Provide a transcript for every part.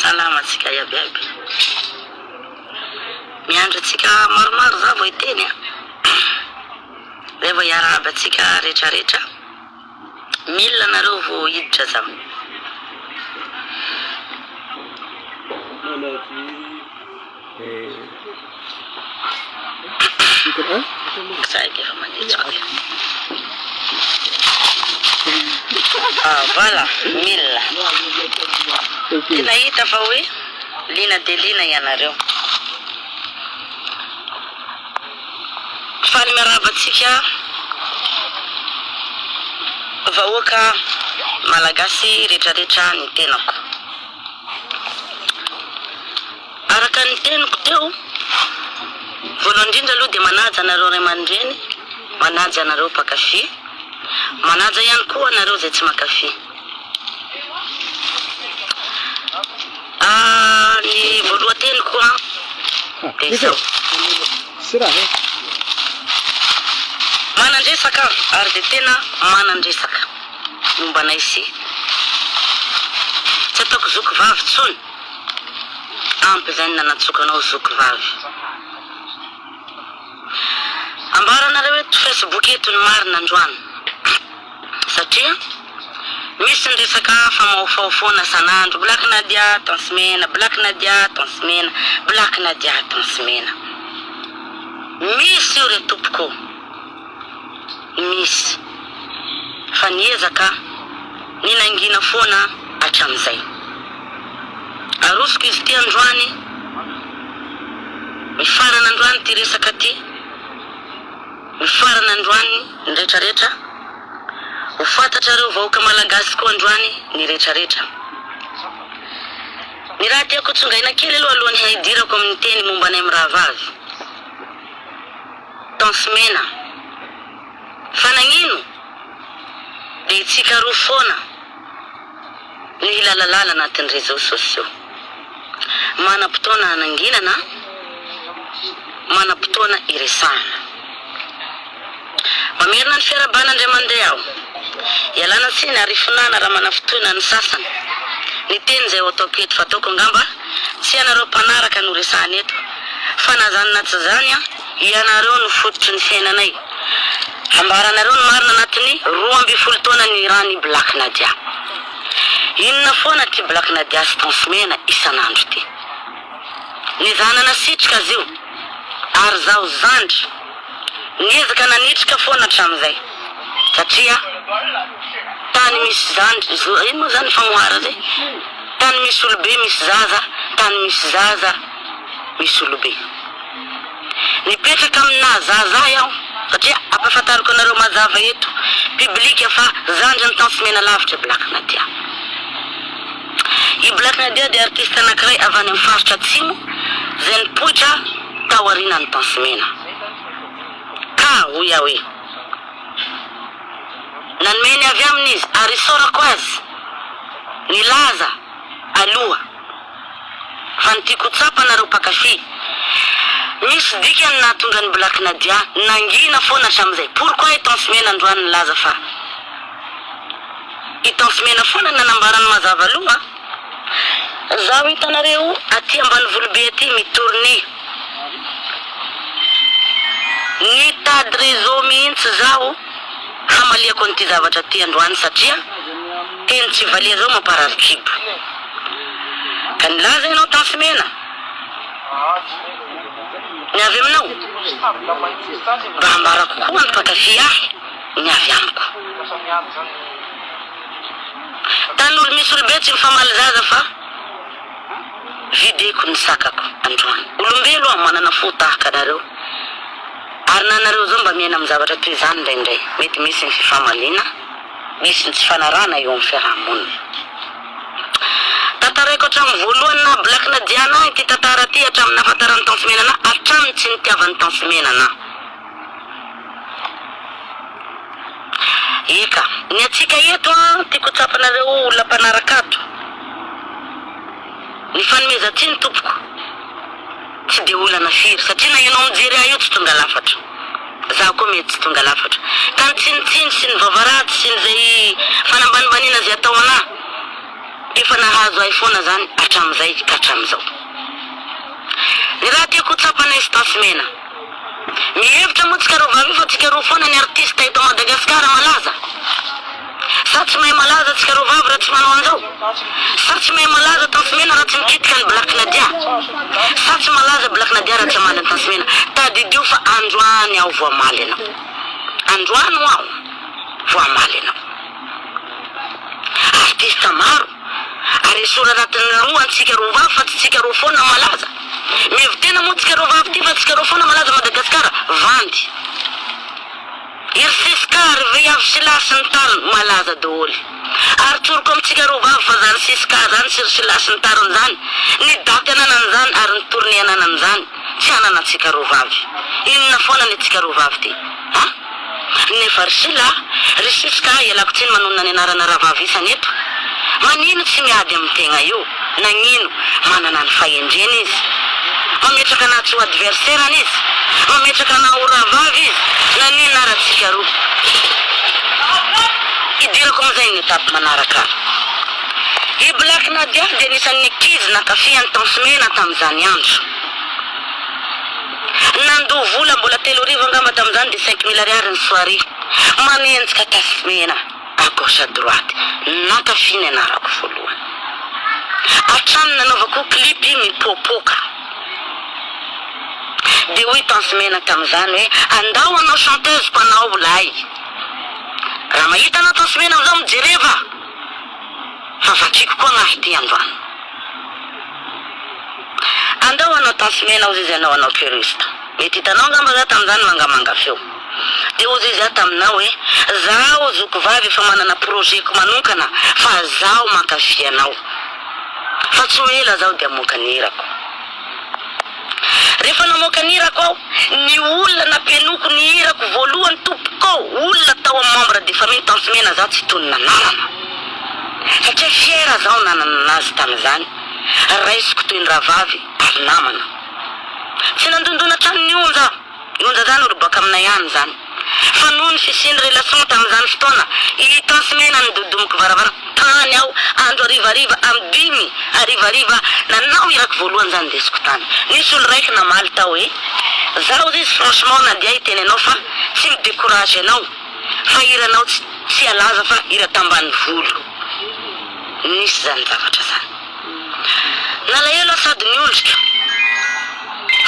Salama antsika iaby iaby. Miandry antsika maromaro za vao hiteny a. Zay vao hiarahaba antsika rehetra rehetra. Mila anareo vao hiditra za. Voilà mila. Tena hita fa hoe liana dia liana ianareo. Faly miarahaba antsika vahoaka malagasy retraretra ny tenako. Araka ny teniko teo, voalohany indrindra aloha dia manaja anareo ray aman-dreny, manaja anareo mpankafy, manaja ihany koa anareo izay tsy mankafy. Ny voalohan-teniko an dia izao, manan-dresaka aho ary dia tena manan-dresaka momba anay sy tsy ataoko zoky vavy intsony, ampy izay ny nanatsoako anao zoky vavy. Ambaranareo eto facebook eto ny marina androany satria misy ny resaka famaofao foana san'andro black nadia tence mena black nadia tence mena black nadia tence mena misy io re tompoko o. Nisy. Fa niezaka aho. Ny nangina foana aho hatramin'izay. Arosoko izy ity androany. Mifarana androany ity resaka ity. Mifarana androany ny retraretra. Ho fantatrareo vahoaka Malagasy koa androany ny retraretra. Ny raha tiako ho tsongaina kely aloha alohan'ny haidirako amin'ny teny momba anay mirahavavy. Tence mena. Fa nagnino? Dia tsikaroho foana ny hilalalala anatin'ny réseaux sociaux. Manam-potoana hananginana, manam-potoana hiresahana. Mamerina ny fiarahabana indray mandeha aho. Ialana tsiny ary ifonana raha manafitohina ny sasany ny teny izay ho ataoko eto, fa ataoko angamba. Tsy ianareo mpanaraka no resahana eto fa na zany na tsy zany an, ianareo no fototry ny fiainanay. Ambaranareo ny marina anatin'ny roa ambin'ny folo taona niran'i Black Nadia. Inona foana ty Black Nadia sy Ton Smena isan'andro ty. Ny zana nasitrika azy io ary zaho zandry niezaka nanitrika foana hatramin'izay satria tany misy zandry, ino moa zany ny fanoharana e? Tany misy olobe misy zaza Tany misy zaza misy olobe Nipetraka amin'ny naha zaza ahy aho Satria ampahafantariko anareo mazava eto Public fa zandrin'i Tantso Menalavitra Black Nadia I Black Nadia dia artiste anankiray avy any amin'ny faritra atsimo Izay nipoitra tao aorianan'i Tantso Mena Ka hoy aho hoe. Nanome ny avy aminy izy, ary isaorako azy. Nilaza aloha fa ny tiako ho tsapanareo mpankafy, misy dikany ny nahatonga an'i Black Nadia nangina foana hatramin'izay. Pourquoi i Tance Mena androany nilaza fa i Tance Mena foana no nanambara ny mazava aloha? Zaho hitanareo aty ambanivolo be aty mi tourner. Nitady réseau mihitsy zaho hamaliako an'ity zavatra ty androany satria teny tsy valery reo mamparary kibo. Ka nilaza ianao Tafy mena ny avy aminao mba ambarako koa ny mpankafy ahy ny avy amiko. Tany olo misy olo be tsy mifamaly zaza fa videko ny sakako androany. Olombelo aho manana fo tahaka anareo ary na nareo zao mba miaina am zavatra toy zany ndraindray. Mety misy ny fifamaliana, misy ny tsy fanarahana eo am fiarahamonina. Tantaraiko hatram voalohany naha blaky na Diana ahy ty tantara ty hatram nahafantarany Tantsimena anah hatram tsy nitiavany Tantsimena anah. Eka! Ny antsika eto an, tiako ho tsapanareo olona mpanaraka ato, ny fanomezan-tsiny tompoko tsy dia olana firy satria na ianao mijery ahy io tsy tonga lafatra, za koa mety tsy tonga lafatra, ka ny tsinontsino sy ny vava ratsy sy ny zay fanambanimbaniana zay atao anah dia efa nahazo ahy foana zany hatramizay ka hatramizao. Ny raha tiako ho tsapanay sy Tasimena. Mihevitra moa tsika roa vavy io fa tsika roa foana ny artista eto Madagascar malaza? Sa tsy mahay malaza tsika roa vavy raha tsy manao an'izao? Sa tsy mahay malaza Tansimena raha tsy mikitika an'i Black Nadia? Sa tsy malaza Black Nadia raha tsy hamaly an'i Tansimena? Tadidio fa androany aho vao hamaly anao. Androany ho'aho vao hamaly anao. Artista maro. Ary esorina anatin'ny roa antsika roa vavy fa tsy tsika roa foana malaza Mihevi tena moa tsika roa vavy ty fa tsika roa foana malaza Madagascar Vandy Iry Siska ry veiavy Sila sy ny tariny Malaza doholy Ary tsoriko amintsika roa vavy fa zany Siska zany sy ry Sila sy ny tariny zany Ny daty ananany zany ary ny tournée ananany zany Tsy hanana antsika roa vavy. Inona foana ny antsika roa vavy ty a! Nefa ry Sila a! Ry Siska a! Ialako tsiny manonona ny anarana rahavavy isany eto. Manino tsy miady amin'ny tegna io? Nagnino? Manana ny fahendreny izy. Mametraka anà tsy ho adversaire-ny izy. Mametraka anà ho rahavavy izy. Naninona ara antsika roa? Hidirako amin'izay ny étape manaraka. I Black Nadia dia anisan'ny ankizy nankafy an'i Tom Smena tamin'izany andro. Nandoa vola mbola telo arivo angamba tamin'izany dia cinq mille ariary ny soirée. Manenjika Tass Smena à gauche à droite. Nankafy ny anarako voalohany. Hatrany nanaovako clip i Mipoapoaka. Dia hoy Tom Smena tamin'izany hoe andao hanao chanteuse-ko anao ho lahy. Raha mahita anao Tom Smena amin'izao mijereva. Fa vakiko koa ngah ity androany. Andao hanao tansy mena ozy izy anao hanao cuiriste. Mety hitanao angamba za tamin'izany mangamanga feo. Dia ozy izy aho taminao hoe zaho zoky vavy efa manana projet-ko manonkana fa zaho mankafy anao. Fa tsy ho ela zaho dia hamoaka ny hirako. Rehefa namoaka ny hirako aho, ny olona nampihenoko ny hirako voalohany tompoko olona tao amin'ny membre de famille Tanty Mena za tsy tony nananana satria fière zaho nanana azy tamin'izany, raisiko toy ny rahavavy ary namana. Tsy nandondona hatrany ny onja aho. Nonjajany ry baka aminay any izany fa noho ny fisian'ny relation tamin'izany fotoana i Tansmena nidodomiko varavara tany aho andro harivariva am dimy harivariva nanao irako voalohany izany indesiko tany nisy olo raiky namaly tao hoe zaho ozy izy franchement na dia hiteny anao fa tsy mi decourage anao fa hiranao tsy tsy alaza fa hira tambanivolo nisy izany zavatra izany. Nalahelo aho sady niondrika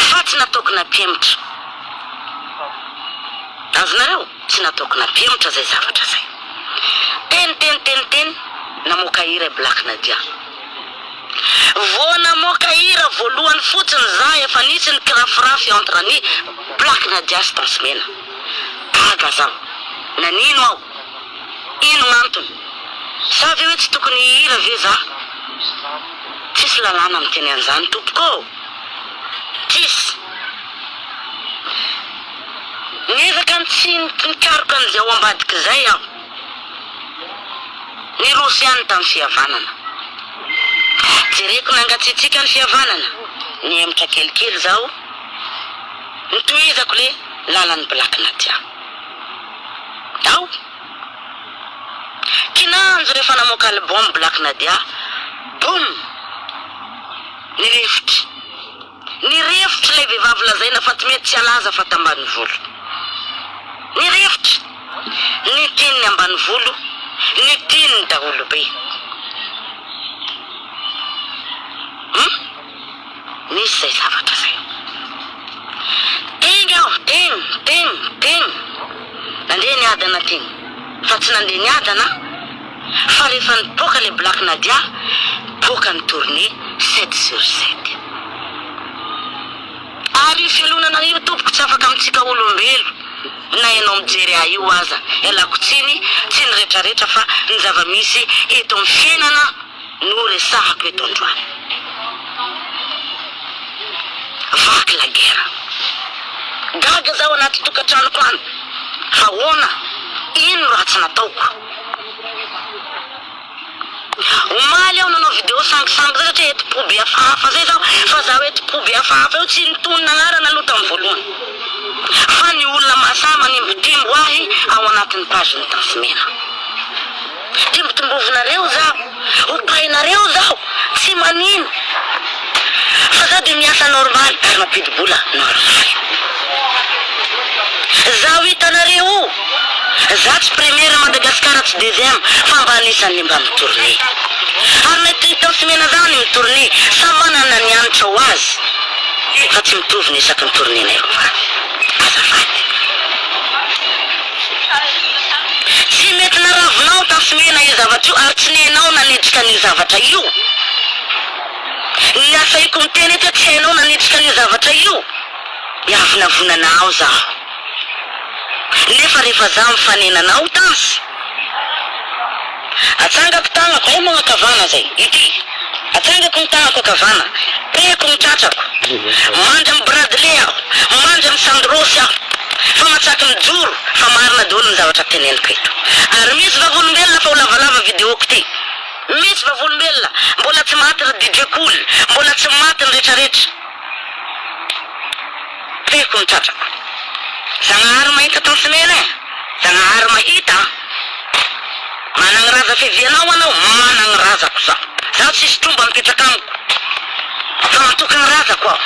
fa tsy nataoko nampihemotra azonareo? Tsy nataoko nampihemotra zay zavatra zay. Teny teny teny teny namoaka hira i Black Nadia. Vao namoaka hira voalohany fotsiny za efa nisy ny kirafirafy entre an'i Black Nadia sy Tansy Mena. Gaga zaho. Nanino aho? Ino gnantony? Sa ve hoe tsy tokony hihira ve za? Tsisy lalàna miteny an'zany tompoko ô! Tsisy! Nefa kany tsy nikaroka an'izay ao ambadika izay aho. Niroso ihany tamin'ny fihavanana. Jereko nangatsiatsiaka ny fihavanana, nihemotra kelikely zaho, nitohizako le lalan'ny black nadia. Tao kinanjo rehefa namoaka album Black Nadia, boom! Nirefotry. Nirefotry ilay vehivavy lazaina fa tsy mety tsy halaza fa tambanivolo. Nirefotry. Ny tian'ny ambanivolo, ny tian'ny daholobe. Humm. Misy izay zavatra izay. Teny aho, teny, teny, teny. Nandeha niadana teny. Fa tsy nandeha niadana aho, fa rehefa nipoaka ilay Black Nadia, nipoaka ny tournée sept sur sept. Ary io fialonana io tompoko tsy afaka amintsika olombelo, na ianao mijery ahy io aza, ialako tsiny, tsy ny retraretra fa ny zava-misy eto amin'ny fiainana. no resahako eto androany. Vaky la guerre. Gaga za ao anaty tokantranoko any fa ahoana, ino no ratsy nataoko. Omaly aho nanao video sangisangy zay satria eto po be hafahafa zay zaho fa za eto po be hafahafa io tsy nitonona anarana aloha tam voalohany fa ny olona mahasahy manimbotimbo ahy ao anatiny page ny Tafimena. Hidimbodimbovinareo zaho, hopahinareo zaho, tsy manino fa zaho dia miasa normal ary mampidi-bola normal. Zaho hitanareo io, zaho tsy première Madagascar tsy deuxième fa mba anisan'ny mba mi-tourner. Ary na eto Intense Mena zaho ny mi-tourner, samy manana ny hanitra ho azy fa tsy mitovy ny isaky ny tournée-nay rovany. Tsy mety naravinao tafimena io zavatra io ary tsy nenao nanejika an'io zavatra io. Ny asaiko miteny eto hoe tsy hainao nanejika an'io zavatra io, miavonavona anao zaho. Nefa rehefa zaho mifanena anao, Tans. Atsangako tanako hay moa ankavana zay ity atsangako ny tanako ankavana tehako ny tratrako mandry am bradley aho mandry am sandrosy aho fa matsaky mijoro fa marina daholo ny zavatra teneniko eto ary misy vavolombelona fa ho lavalava videoko ty misy vavolombelona mbola tsy maty ry DJ cool mbola tsy maty ny retraretra. Tiako ny tratrako. Zagnahary mahita tany sy mena eh. Zagnahary mahita an. Managny raza fivianao anao managny razako zaho. Zaho tsisy tromba mipetraka amiko fa mantokagny razako aho.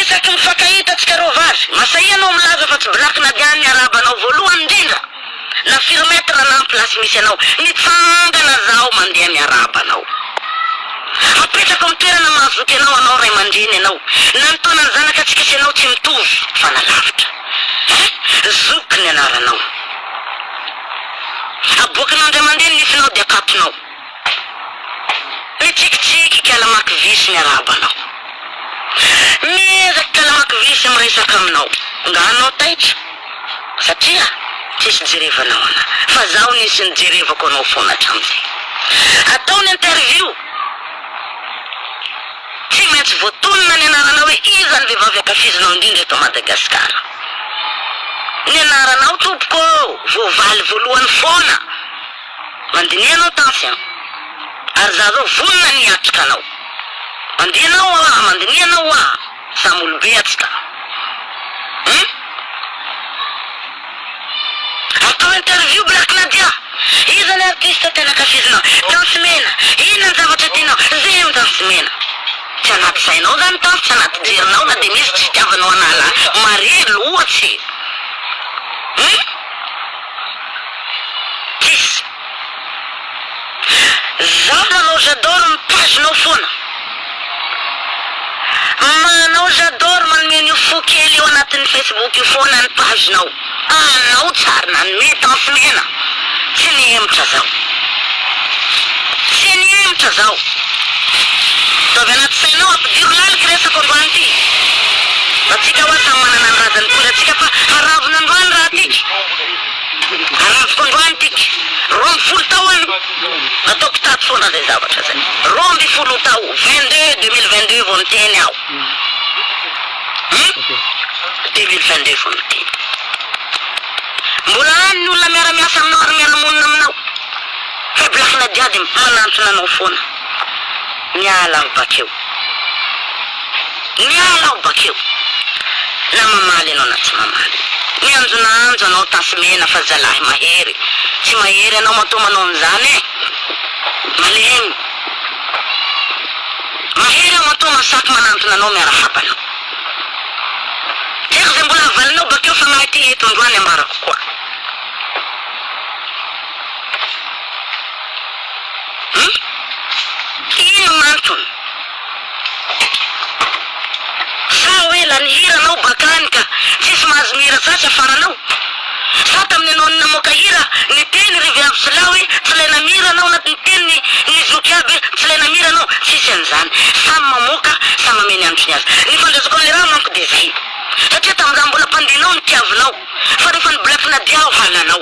Isaky mifankahita tsika roa vavy, masahia anao milaza fa tsy black nadian ny araba anao voalohany indrindra. Na firy mètre na ny place misy anao mitsangana zaho mandeha miarahaba anao Apetrako amin'ny toerana mahazoto anao hanao ray aman-dreny ianao Na ny taonan'ny zanakatsika sy ianao tsy mitovy fa na lavitra eh Zoky ny anaranao Aboakinao indray mandeha ny nifinao dia akatonao Mitsikitsiky ka namaky vy sy niarahaba anao. Miezaka ka namaky vy sy miresaka aminao. Nga anao taitra? Satria tsisy jerevanao ana. Fa zaho nisy nijerevako anao foana hatramin'izay. Atao ny interview. Tsy maintsy voatonona ny anaranao hoe iza ny vehivavy ankafizinao indrindra eto Madagasikara. Ny anaranao tompoko ô! Voavaly voalohany foana. Mandiniha ianao Tansy an! Ary izaho izao vonona ny hiatrika anao! Mandihy anao ho'a! Mandiniha ianao ho'a! Samy olobe atsika! Hum! Atao interview Black Nadia! Iza le artiste tena ankafizinao? Tansy mena! Inona ny zavatra tianao? Zero ny Tansy mena! Tsy anaty sainao zany Tansy, tsy anaty jerinao na dia misy tsy fitiavanao an'ala Maria loatsy! Hum! Kiss. Zaho manao j'adore mitazona ao foana. Manao j'adore manome an'io fo kely io anatin'ny Facebook io foana ny page-nao. Anao tsary nanome danse mena. Tsy nihemotra zaho. Tsy nihemotra zaho. Dia avy anaty sainao ampidiro laliky resako androany ity. Antsika hoa samy manana ny razan'ny toerantsika fa haravona androany raha tiky. Aranjiko androany tika roa amby folo tao an! Nataoko tato foana zay zavatra zay. Roa amby folo tao, vingt deux, deux mille vingt deux vao niteny aho. Hum? Deux mille vingt deux vao niteny. Mbola any ny olona miara-miasa aminao ary miara-monina aminao. Faiblesse-na jiaby manantona anao foana. Miala aho bakeo. Miala aho bakeo. Na mamaly ianao na tsy mamaly. Mianjonaanjo anao tasy mena fa zalahy mahery. Tsy mahery ianao matoa manao an'izany e! Malemy. Mahery aho matoa masaky manantona anao miarahaba anao. Tiako izay mbola havalinao bakeo fanahy ity eto androany ambarako koa. Hum ino nantony? Sa hoe lany hira anao bakany ka tsisy mahazo mihira sasy afara anao? Sa tamin'ny ianao namoaka hira niteny ry viavy sy lahy hoe tsy ilaina mihira anao na niteny ny zoky aby hoe tsy ilaina mihira anao? Tsisy an'izany, samy mamoaka, samy amea ny androny azy. Ny fandraisako an'ilay raha manko dia izay satria tamin'izaho mbola mpandihy anao nitiavinao fa rehefa ny black nadia aho halanao.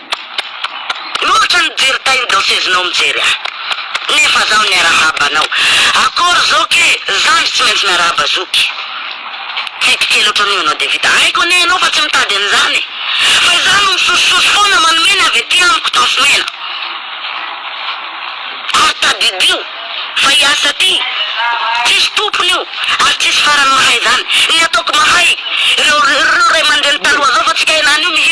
Loatra ny jery taille danseuse-nao mijery ahy nefa zaho niarahaba anao akory zoky e! zandry tsy maintsy miarahaba zoky fito kely ohatran'io ianao dia vita haiko anie ianao fa tsy mitady an'izany e! fa izaho no misosososy foana manome ny avy ety amiko tansomena ary tadidio fa hiasa aty tsisy tompony io ary tsisy farany mahay izany ny ataoko mahay ireo raiamandreny taloha zao fa tsy kay lany io mihira